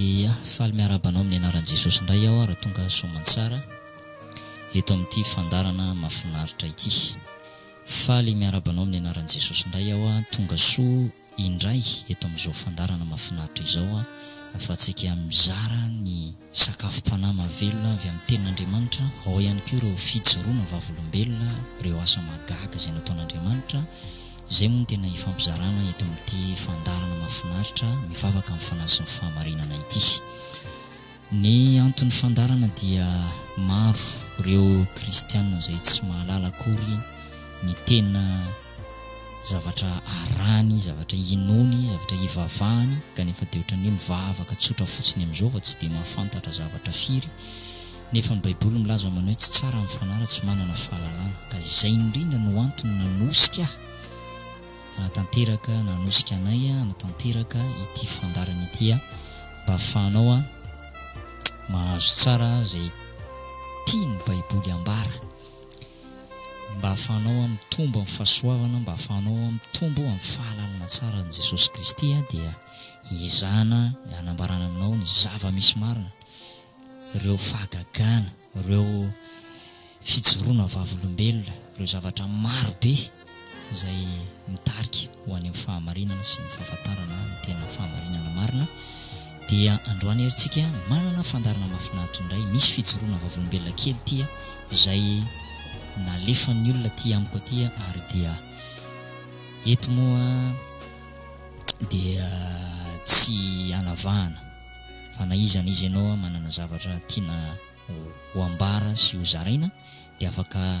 Ia, faly miarahaba anao amin'ny anaran'i Jesosy indray aho raha tonga soamantsara eto amin'ity fandarana mafinaritra ity. Faly miarahaba anao amin'ny anaran'i Jesosy indray aho, tonga soa. indray eto amin'izao fandaharana mahafinaritra izao ahafahantsika mizara ny sakafom-panahy mahavelona avy amin'ny Tenin'Andriamanitra, ao ihany koa ireo fijoroana vavolombelona, ireo asa mahagaga izay nataon'Andriamanitra, izay moa no tena hifampizarana eto amin'ity fandaharana mahafinaritra mivavaka amin'ny fanahy sy ny fahamarinana ity. Ny anton'ny fandaharana dia maro ireo kristiana izay tsy mahalala akory ny tena zavatra arahany, zavatra inoany, zavatra ivavahany, kanefa dia ohatran'ny hoe mivavaka tsotra fotsiny amin'izao fa tsy dia mahafantatra zavatra firy, nefa ny Baiboly milaza manao hoe tsy tsara ny fanahy raha tsy manana fahalalana, ka izay indrindra no antony nanosika ahy hanatanteraka, nanosika anay hanatanteraka ity fandaharana ity mba hahafahanao mahazo tsara izay tian'ny Baiboly ambara. mba ahafahanao aho mitombo amin'ny fahasoavana, mba ahafahanao aho mitombo amin'ny fahalalana tsara an'i Jesosy Kristy aho dia hiezahana hanambarana aminao ny zava-misy marina, ireo fahagagana, ireo fijoroana vavolombelona, ireo zavatra marobe. izay mitarika ho any amin'ny fahamarinana sy ny fahafantarana ny tena fahamarinana marina, dia androany ary tsika manana fandarana mafinaritra indray, misy fijoroana vavolombelona kely tia izay nalefan'ny olona tia amiko atia ary dia eto moa dia tsy anavahana fa na iza na iza ianao manana zavatra tiana ho ambara sy ho zaraina dia afaka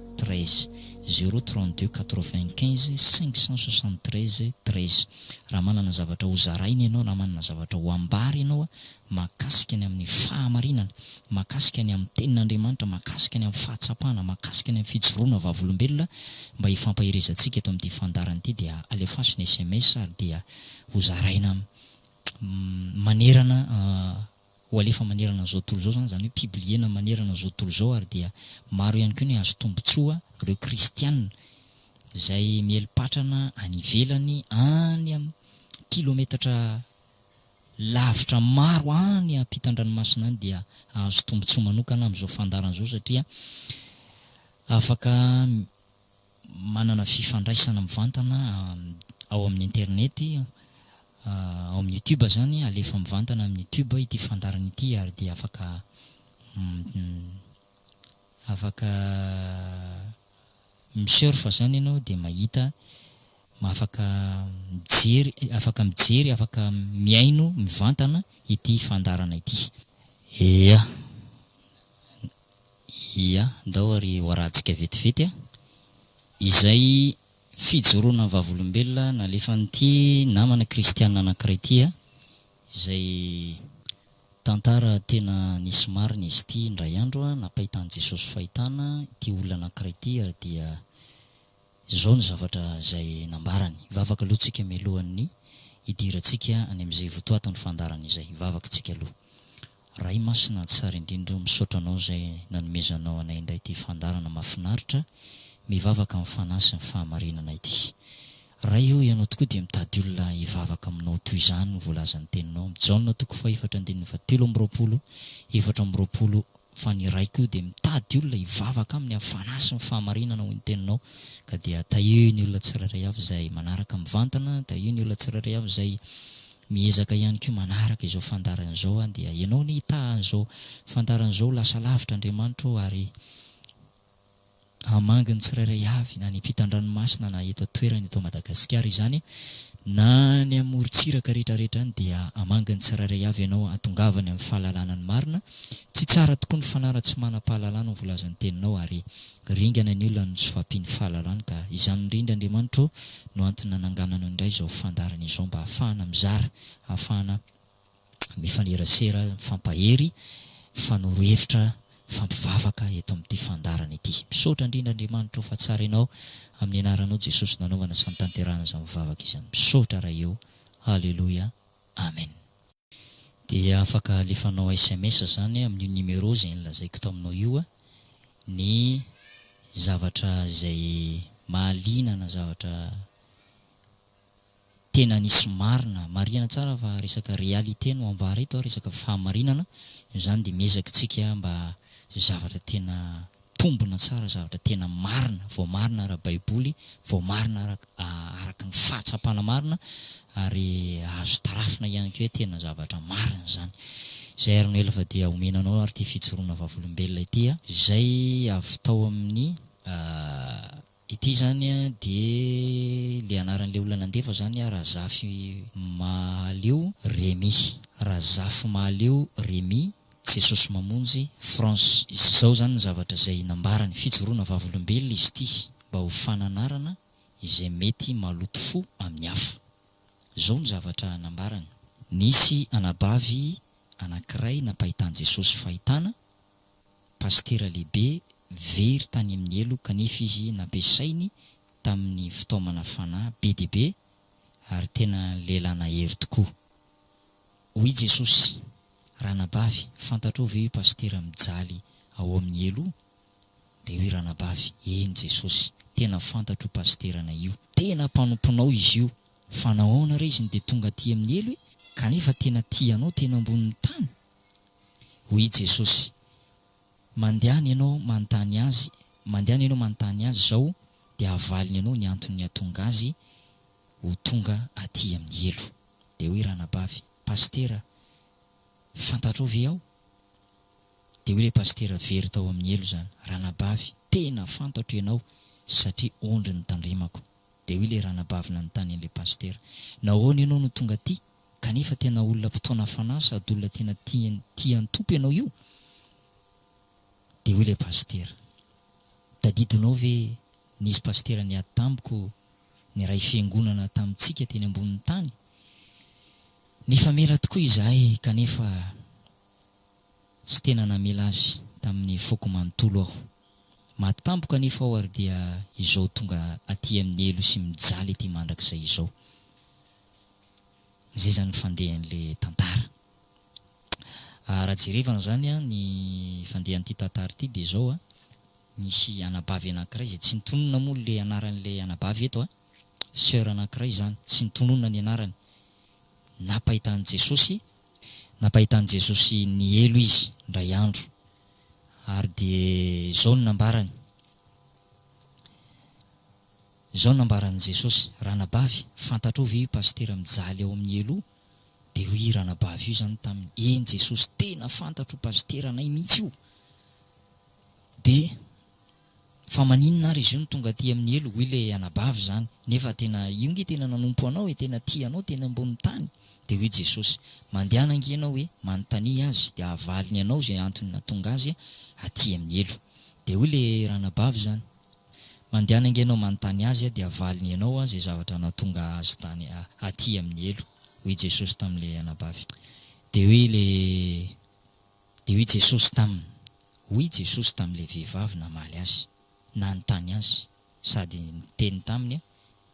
treize, zéro trente deux quatre vingt quinze cinq cent soixante treize treize. Raha manana zavatra ho zaraina ianao na manana zavatra ho ambara ianao mahakasika ny amin'ny fahamarinana, mahakasika ny amin'ny Tenin'Andriamanitra, mahakasika ny amin'ny fahatsapana, mahakasika ny amin'ny fijoroana vavolombelona mba hifampaherezantsika eto amin'ity fandaharana ity dia alefaso ny sms ary dia ho zaraina manerana ho alefa manerana an'izao tontolo izao izany, izany hoe pibliena manerana an'izao tontolo izao ary dia maro ihany koa ny hahazo tombontsoa ireo kristiana izay mieli-patrana any ivelany any amin'ny kilometatra lavitra maro any ampitan-dranomasina any dia hahazo tombontsoa manokana amin'izao fandaharana izao satria afaka manana fifandraisana mivantana ao amin'ny internety, ao amin'ny YouTube izany, alefa mivantana amin'ny YouTube ity fandaharana ity ary dia afaka afaka mi-surf izany ianao dia mahita, afaka mijery, afaka mijery, afaka mihaino mivantana ity fandaharana ity. Ia. Ia, ndao ary ho arahantsika vetivety a! izay fijoroana ny vavolombelona nalefan'ity namana kristiana anankiray ity a! izay tantara tena nisy marina izy ity indray andro a! napahitan'i Jesosy fahitana ity olona anankiray ity ary dia Izao ny zavatra izay nambarany, Vavaka aloha tsika mialohan'ny hidirantsika any amin'izay votoaton'ny fandaharana izay. Vavaka tsika aloha. Ray Masina tsara indrindra o, misaotra anao izay nanomezanao anay indray ity fandaharana mahafinaritra mivavaka amin'ny fanahy sy ny fahamarinana ity. Ray o, Ianao tokoa dia mitady olona hivavaka aminao toy izany ho voalazan'ny teninao, Jaona toko fahefatra andininy fahatelo amby roapolo, efatra amby roapolo, Fa ny Ray koa dia mitady olona hivavaka Aminy amin'ny fanahy sy ny fahamarinana, hoy ny Teninao. Ka dia tahio ny olona tsirairay avy izay manaraka mivantana, tahio ny olona tsirairay avy izay miezaka ihany koa manaraka izao fandaharana izao, dia Ianao anie hitaha an'izao fandaharana izao ho lasa lavitra, Andriamanitra ô, ary. hamangy ny tsirairay avy na any ampitan-dranomasina na eto an-toerana eto Madagasikara izany na any amin'ny morontsiraka rehetra rehetra any dia hamangy ny tsirairay avy ianao hahatongavany amin'ny fahalalana ny marina tsy tsara tokoa ny fanara tsy manam-pahalalana ho voalaza ny teninao ary ringana ny olona no tsy fahampian'ny fahalalany ka izany indrindra Andriamanitro no antony nanangananao indray izao fandaharana izao mba hahafahana mizara hahafahana mifanerasera, mifampahery, mifanoro hevitra, mifampivavaka eto amin'ity fandaharana ity. Misaotra indrindra Andriamanitra o fa tsara ianao, amin'ny anaranao Jesosy nanaovana sy nitanterahana izany vavaka izany. Misaotra Ray o. Haleloia. Amen. Dia afaka alefanao sms izany amin'io numéro izay nolazaiko tao aminao io ny zavatra izay mahaliana na zavatra tena nisy marina, marihana tsara fa resaka réalité no ambara eto, resaka fahamarinana, izany dia miezaka tsika mba zavatra tena mitombina tsara, zavatra tena marina, voamarina ara baiboly, voamarina araka ny fahatsapana marina, ary azo tarafina ihany koa hoe tena zavatra marina izany. Izay ary no ela fa dia omena anao ary ity fijoroana vavolombelona ity, izay avy tao amin'ny. Ity zany a dia le anaran'le olona nandefa zany a Razafimahaleo Remy Razafimahaleo Remy Jesosy Mamonjy France. Izao zany ny zavatra izay nambarany, fijoroana vavolombelona izy ity mba ho fananarana izay mety maloto fo amin'ny hafa. Izao ny zavatra nambarany. Nisy anabavy anankiray nampahitan'i Jesosy fahitana, Pasitera lehibe very tany amin'ny helo kanefa izy nampiasainy tamin'ny fitaomana fanahy be dia be ary tena lehilahy nahery tokoa. Hoy Jesosy, Ranabavy, fantatrao ve io pasitera mijaly ao amin'ny helo io? Dia hoy Ranabavy, Eny Jesosy, tena fantatro io pasiteranay io. Tena mpanomponao izy io, fa nahoana re izy no dia tonga aty amin'ny helo e? Kanefa tena tia anao tena ambonin'ny tany? Hoy i Jesosy, Mandehana ianao manontany Azy, mandehana ianao manontany Azy izao, dia havaliny anao ny antony nihatonga Azy ho tonga aty amin'ny helo. Dia hoy ranabavy, Pasitera, fantatrao ve aho? Dia hoy ilay pasitera very tao amin'ny helo izany, Ranabavy, tena fantatro ianao, satria ondry notandremako. Dia hoy ilay ranabavy nanontany an'ilay pasitera, Nahoana ianao no tonga aty? Kanefa tena olona mpitaona fanahy sady olona tena tia tia ny Tompo ianao io? Dia hoy ilay pasitera, Tadidinao ve, nisy pasitera niady tamiko niray fiangonana tamintsika teny ambonin'ny tany? Nifamela tokoa izahay kanefa tsy tena namela azy tamin'ny foko manontolo aho. Maty tampoka anefa aho ary dia izao tonga aty amin'ny helo sy mijaly ety mandrakizay izao. Izay izany ny fandehan'ilay tantara. Raha jerevana izany an, ny fandehan'ity tantara ity dia izao an, nisy anabavy anankiray izay tsy nitonona moa ilay anaran'ilay anabavy eto an, soeur anankiray izany, tsy nitonona ny anarany. Nampahita an'i Jesosy, nampahita an'i Jesosy ny helo izy indray andro, ary dia izao no nambarany, Izao no nambaran'i Jesosy, Ranabavy, fantatrao ve io pasitera mijaly ao amin'ny elo io? Dia hoy io ranabavy io izany taminy, Eny Jesosy, tena fantatr'io pasitera anay mihitsy io! Dia Fa maninona ary izy io no tonga aty amin'ny elo? Hoy ilay anabavy izany, Nefa tena io nge tena nanompo anao e, tena tia anao teny ambonin'ny tany! Dia hoy Jesosy, Mandehana ange ianao e, manontania azy, dia havaliny anao izay antony nahatonga azy aty amin'ny elo. Dia hoy ilay ranabavy izany. Mandehana ange ianao manontany azy a, dia havaliny ianao a, izay zavatra nahatonga azy tany a, aty amin'ny helo, hoy Jesosy tamin'ilay anabavy. Dia hoy ilay, dia hoy Jesosy taminy, hoy Jesosy tamin'ilay vehivavy namaly Azy, nanontany Azy, sady niteny taminy hoe,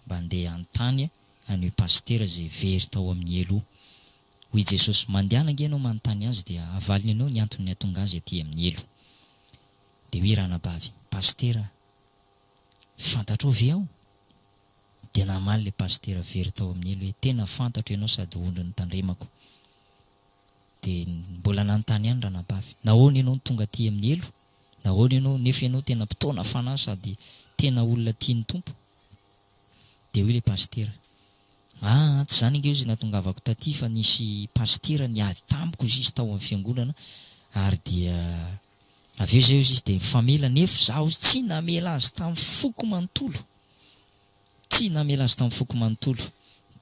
Mba ndeha hanontany an'io pasitera izay very tao amin'ny helo io. Hoy Jesosy, Mandehana ange ianao manontany azy, dia havaliny ianao ny antony nihatonga azy aty amin'ny helo. Dia hoe ranabavy, Pasitera a! fantatrao ve aho? Dia namaly ilay pasitera very tao amin'ny elo hoe, tena fantatro ianao sady ondry notandremako. Dia mbola nanontany ihany ranabavy, nahoana ianao no tonga aty amin'ny elo? Nahoana ianao, nefa ianao tena mpitaona fanahy sady tena olona tian'ny Tompo? Dia hoy ilay pasitera, aa tsy izany ange izy natongavako taty fa nisy pasitera niady tamiko izy tao amin'ny fiangonana ary dia Avy eo izay hozy izy dia mifamela nefo za hozy tsy namela azy tam foko manontolo tsy namela azy tam foko manontolo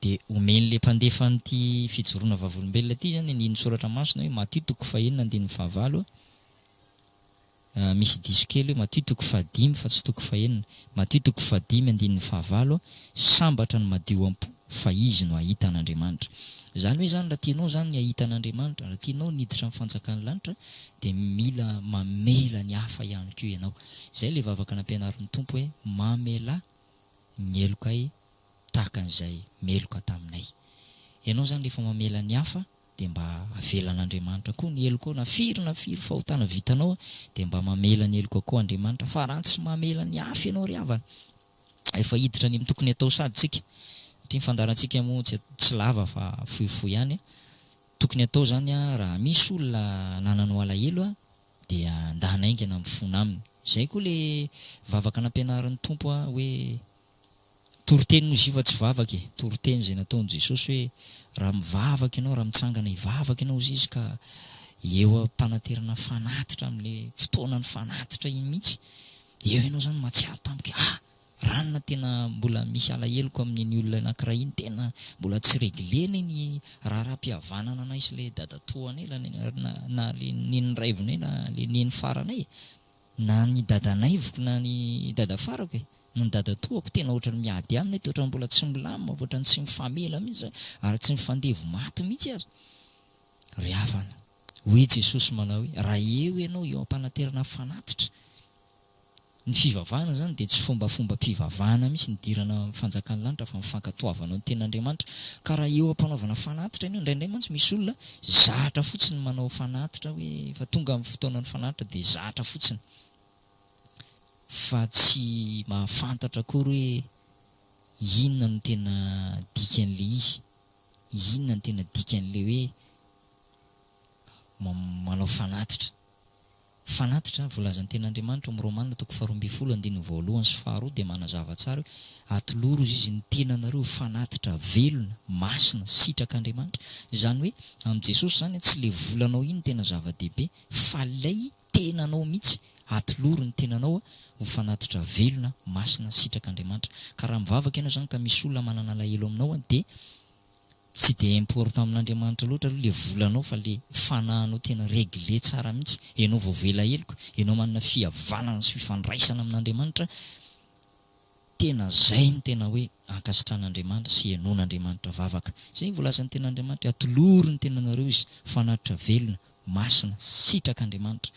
dia omen le mpandefa an ty fijoroana vavolombelona ty zany andinin tsoratra masina hoe Matio toko fahenina andininy fahavalo a misy diso kely hoe Matio toko fahadimy fa tsy toko fahenina Matio toko fahadimy andininy fahavalo a sambatra ny madio am po fa izy no hahita an'Andriamanitra. Izany hoe izany, raha tianao izany ny hahita an'Andriamanitra, raha tianao ny hiditra amin'ny fanjakan'ny lanitra, dia mila mamela ny hafa ihany koa ianao. Izay ilay vavaka nampianarin'ny Tompo hoe, Mamelà ny helokay tahaka an'izay meloka taminay. Ianao izany rehefa mamela ny hafa dia mba avelan'Andriamanitra koa ny helokao, na firy na firy fahotana vitanao dia mba mamela ny helokao koa Andriamanitra, fa raha tsy mamela ny hafa ianao ry havana, efa hiditra ny tokony atao sady tsika satria ny fandaharantsika moa tsy lava fa fohifohy ihany a, tokony atao zany a raha misy olona anananao alahelo a dia nda hanaingana mifona aminy zay koa le vavaka nampianarin'ny Tompo a hoe toriteny moa izy io fa tsy vavaka e toriteny zay nataony Jesosy hoe raha mivavaka ianao raha mitsangana hivavaka ianao hozy izy ka eo ampananterana fanatitra amle fotoanany fanatitra iny mihitsy Eo ianao izany mahatsiaro tampoka hoe ah! Ranona tena mbola misy alaheloko amin'iny olona anakiray iny, tena mbola tsy reglena iny raharaham-pihavanana anay sy ilay dadatoanay, na ilay neny raivinay na ilay neny faranay e! Na ny dadanaiviko na ny dada farako e! Na ny dadatoako, tena ohatran'ny miady aminy eto, ohatran'ny mbola tsy milamina, ohatran'ny tsy mifamela mihitsy izany, ary tsy mifandevo maty mihitsy aza ry havana. Hoy i Jesosy manao hoe, Raha eo ianao eo am-panaterana fanatitra. Ny fivavahana izany dia tsy fombafombam-pivavahana mihitsy nidirana amin'ny fanjakan'ny lanitra fa ny fankatoavanao ny tenin'Andriamanitra. Ka raha eo am-panaovana fanatitra ianao, indraindray mantsy misy olona zatra fotsiny ny manao fanatitra hoe efa tonga ny fotoanan'ny fanatitra dia zatra fotsiny fa tsy mahafantatra akory hoe inona no tena dikan'ilay izy, inona no tena dikan'ilay hoe manao fanatitra. Fanatitra, voalazan'ny Tenin'Andriamanitra ao amin'ny Romana toko faharoa ambin'ny folo andininy voalohany sy faharoa dia manazava tsara hoe, Atolory hozy izy ny tenanareo ho fanatitra, velona, masina, sitrak'Andriamanitra. Izany hoe, amin'i Jesosy izany an, tsy ilay volanao iny tena zava-dehibe, fa ilay tenanao mihitsy. Atolory ny tenanao ho fanatitra, velona, masina, sitrak'Andriamanitra. Ka raha mivavaka ianao izany ka misy olona manana alahelo aminao dia. Tsy dia important amin'Andriamanitra loatra aloha le volanao fa le fanahinao tena regle tsara mihitsy, enao vao avy ela heloka, enao manana fihavanana sy fifandraisana amin'Andriamanitra, tena zay no tena hoe ankasitrahan'Andriamanitra sy henoin'Andriamanitra vavaka. Zay voalazan'ny tenin'Andriamanitra hoe atolory ny tenanareo Izy, fanatitra velona, Masina, sitraka Andriamanitra.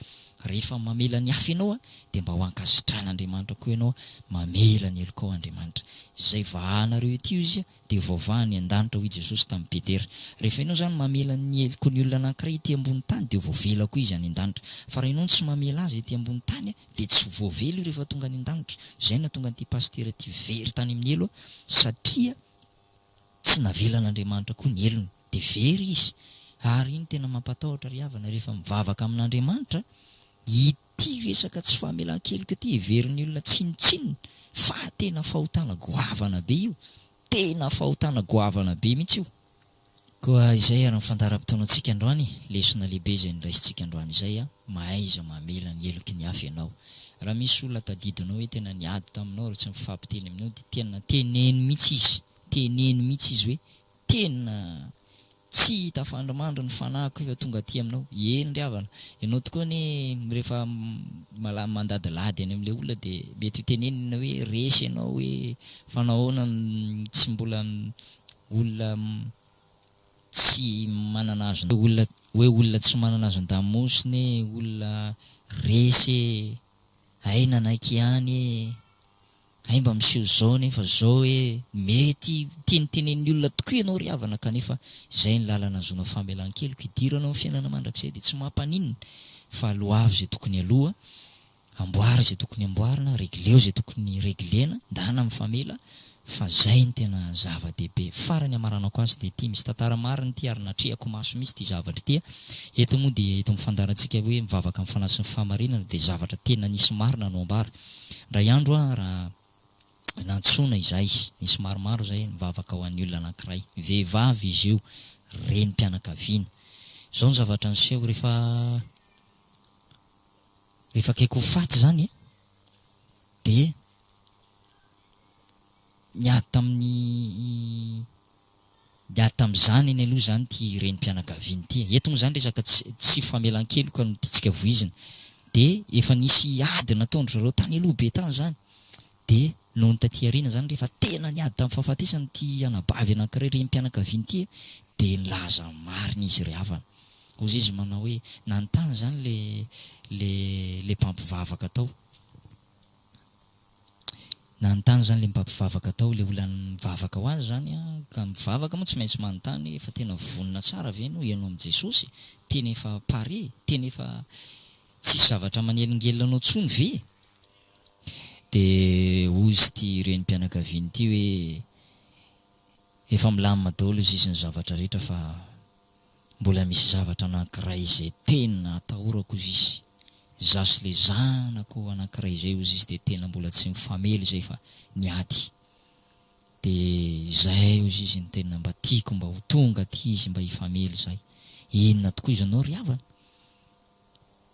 Rehefa mamela ny hafa ianao dia mba ho ankasitran'Andriamanitra koa ianao, mamela ny helokao Andriamanitra. Izay vahanareo ity hoy Izy dia voavaha any an-danitra hoy Jesosy tamin'i Petera. Rehefa ianao izany mamela ny heloky ny olona anankiray ety ambony tany dia voavela koa izy any an-danitra. Fa raha ianao no tsy mamela azy ety ambony tany dia tsy voavela io rehefa tonga any an-danitra. Izay no nahatonga an'ity pasitera ity very tany amin'ny helo satria. Tsy navelan'Andriamanitra koa ny helony, dia very izy. Ary iny tena mampatahotra ry havana rehefa mivavaka amin'Andriamanitra, ity resaka tsy famelan-keloka ity heverin'ny olona tsinontsinona fa tena fahotana goavana be io, tena fahotana goavana be mihitsy io. Koa izay ary ny fandaharam-potoanantsika androany, lesona lehibe izay noraisintsika androany izay, mahaiza mamela ny heloky ny hafa ianao. Raha misy olona tadidinao hoe tena niady taminao ary tsy mifampiteny aminao dia tena teneno mihitsy izy, teneno mihitsy izy hoe tena tsy tafandrimandry ny fanahiko efa tonga aty aminao. Eny ry havana, ianao tokoa anie rehefa mala- mandadilady any amin'ilay olona dia mety ho tenenina hoe resy ianao hoe fa nahoana no tsy mbola olona tsy manana azon olona hoe olona tsy manana azon-damosina e, olona resy e, hay nanaiky ihany e, hay mba miseho zao nefa zao e, mety tinitinin'ny olona tokoa ianao ry havana kanefa izay ny lalana ahazoana famelan-keloka, idiranao amin'ny fiainana mandrakizay dia tsy mampaninona fa aloavy izay tokony aloa, Amboary izay tokony amboarina, regleo izay tokony reglena, ndana mifamela fa zay ny tena zava-dehibe. Farany hamaranako azy dia ity, misy tantara marina ity ary natrehako maso mihitsy ity zavatra ity. Eto moa dia eto amin'ny fandaharantsika hoe mivavaka amin'ny fanahy sy ny fahamarinana dia zavatra tena nisy marina no ambara. Indray andro aho raha nantsoina izahay, nisy maromaro izahay nivavaka ho an'ny olona anankiray. Vehivavy izy io, renim-pianakaviana. Izao no zavatra niseho, rehefa. Rehefa akaiky ho faty izany dia niady tamin'ny niady tamin'ny zanany aloha izany ity renim-pianakaviana ity e. Eto moa izany resaka tsy tsy famelan-keloka no tiantsika voizina. Dia efa nisy ady nataon-dry zareo tany aloha be tany izany. Dia nony taty aoriana izany rehefa tena niady tamin'ny fahafatesana ity anabavy anankiray renim-pianakaviana ity dia nilaza ny marina izy ry havana. Hozy izy manao hoe, nanontany izany ilay ilay ilay mpampivavaka tao. Nanontany izany ilay mpampivavaka tao, ilay olona mivavaka ho azy izany an, ka mivavaka moa tsy maintsy manontany hoe fa tena vonona tsara ve ianao hihaino amin'i Jesosy? Tena efa pare? Tena efa tsisy zavatra manelingelina anao intsony ve? Dia hoy izy ity renim-pianakaviany ity hoe, Efa milamina daholo izy izy ny zavatra rehetra fa mbola misy zavatra anankiray izay tena atahorako hoy izy. Izaho sy ilay zanako anankiray izay hoy izy dia tena mbola tsy mifamely izay fa niady. Dia izay hoy izy no tena mba tiako mba ho tonga aty izy mba hifamely izahay. Inona tokoa izany ianao ry havana?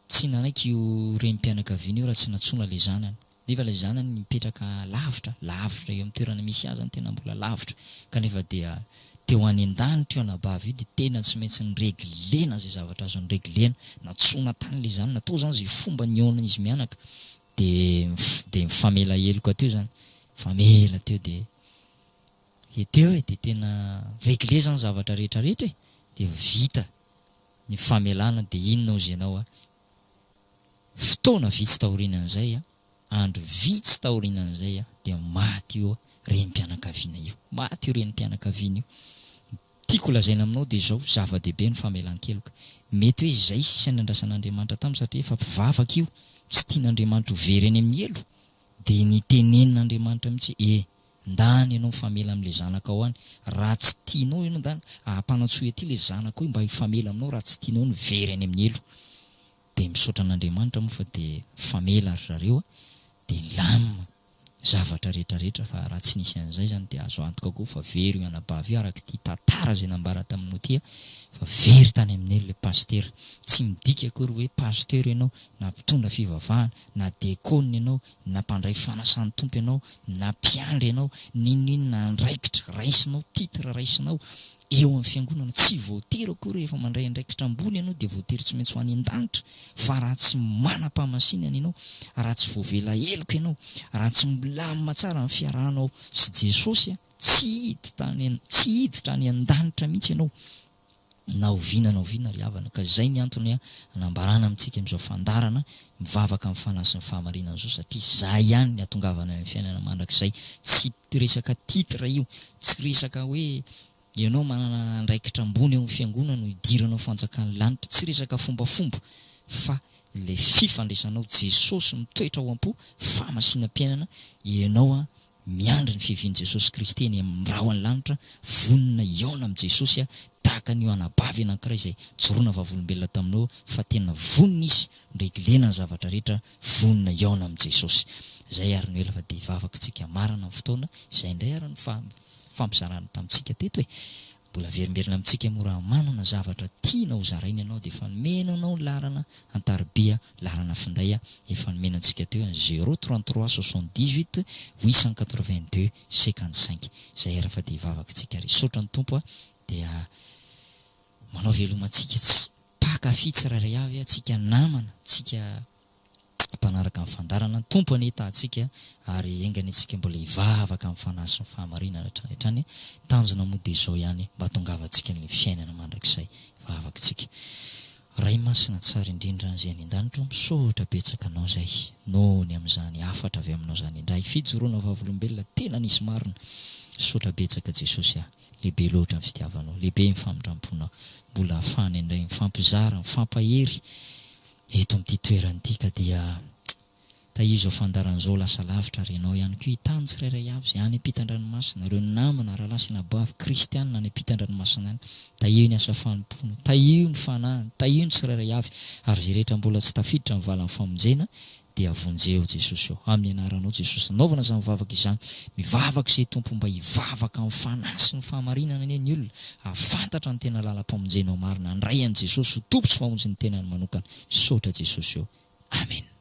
Tsy nanaiky io renim-pianakaviana io raha tsy nantsoina ilay zanany. Nefa ilay zanany mipetraka lavitra, lavitra eo amin'ny toerana misy azy zany tena mbola lavitra. Kanefa dia teo any an-danitra io anabavy io dia tena tsy maintsy nireglena izay zavatra azo nireglena. Nantsoina tany ilay zanany, natao izany izay fomba nihaonan'izy mianaka. Dia dia nifamela heloka teo izany, nifamela teo dia dia teo e, dia tena regle izany zavatra rehetra rehetra e, dia vita. ny famelana dia inona ozy ianao a? fotoana vitsy taorianan'izay a, andro vitsy taorianan'izay a, dia maty io renim-pianakaviana io, maty io renim-pianakaviana io, tiako holazaina aminao dia izao, zava-dehibe ny famelan-keloka, mety hoe izay sisa niandrasan'Andriamanitra taminy satria efa mpivavaka io, tsy tian'Andriamanitra ho very any amin'ny helo, dia ny tenenin'Andriamanitra mihitsy hoe e! Ndany ianao mifamela amin'ilay zanakao any raha tsy tianao ianao ndany ahapanatsohy aty ilay zanakao io mba hifamela aminao raha tsy tianao ny very any amin'ny elo dia misaotra an'Andriamanitra moa fa dia mifamela ry zareo a dia milamina zavatra rehetra rehetra fa raha tsy nisy an'izay izany dia azo antoka koa fa very io anabavy io arak'ity tantara izay nambara taminao ity a fa very tany amin'ny elo ilay pasitera tsy midika akory hoe pasteur ianao na mpitondra fivavahana na dekôna ianao na mpandray fanasan'ny Tompo ianao, na mpiandry ianao, n'inon'inona andraikitra raisinao, titre raisinao, eo amin'ny Fiangonana, tsy voatery akory hoe efa mandray andraikitra ambony ianao dia voatery tsy maintsy ho any an-danitra, fa raha tsy manam-pahamasinana ianao, raha tsy voavela heloka ianao, raha tsy milamina tsara ny fiarahanao sy Jesosy, tsy hiditra any an-danitra mihitsy ianao. na oviana na oviana ry havana ka izay ny antony hanambarana amintsika amin'izao fandaharana mivavaka amin'ny fanahy sy ny fahamarinana izao satria izay ihany ny hatongavana any amin'ny fiainana mandrakizay tsy resaka titre io tsy resaka hoe ianao manana andraikitra ambony eo amin'ny fiangonana no hidiranao ny fanjakan'ny lanitra tsy resaka fombafomba fa ilay fifandraisanao Jesosy mitoetra ao am-po famasinam-piainana ianao Miandry ny fiavian'i Jesosy Kristy eny amin'ny rahon'ny lanitra, vonona hihaona amin'i Jesosy aho, tahaka an'io anabavy anankiray izay jorona vavolombelona tamin'i Noa, fa tena vonona izy ndray gilena ny zavatra rehetra, vonona hihaona amin'i Jesosy. Izay ary no ela fa dia hivavaka isika marina amin'ny fotoana izay indray ary ny fampizarana tamintsika teto e! Mbola averimberina amintsika moa raha manana zavatra tiana ho zaraina ianao dia efa nomena anao ny laharana an-tariby a, laharana finday a, efa nomena antsika teo a, zéro trente trois soixante dix huit huit cent quatre vingt deux cinquante cinq izay ary fa dia vavakintsika ary hisaotra ny Tompo a, dia manao veloma antsika ts mpankafy tsirairay avy a, antsika namana, antsika mpanaraka ny fandaharana, ny Tompo anie tahantsika ary enga anie tsika mbola hivavaka amin'ny fanahy sy ny fahamarinana hatrany hatrany, ny tanjona moa dia izao ihany mba hahatongavantsika an'ilay fiainana mandrakizay vavakintsika. Ray masina tsara indrindra izay any an-danitra o, misaotra betsaka anao izay noho ny amin'izany hafatra avy aminao izany indray, fijoroana vavolombelona tena nisy marina, misaotra betsaka Jesosy ah. Lehibe loatra ny fitiavanao, lehibe ny famindram-ponao, mbola ahafahana indray mifampizara, mifampahery eto amin'ity toerana ity ka dia tahizo ao fandaharan'izao lasa lavitra ary ianao ihany koa hitany tsirairay avy izay any ampitan-dranomasina, ireo namana, rahalahy sy anabavy kristiana any ampitan-dranomasina any, tahio ny asa fanompoana, tahio ny fanahiny, tahio ny tsirairay avy ary izay rehetra mbola tsy tafiditra ny valan'ny famonjena dia vonjeo Jesosy ô amin'ny anaranao Jesosy nanaovana izany vavaka izany mivavaka izay Tompo mba hivavaka amin'ny fanahy sy ny fahamarinana anie ny olona hahafantatra ny tena lalam-pamonjenao marina handray an'i Jesosy ho Tompo sy Mpamonjy ny tenany manokana misaotra Jesosy ô Amen.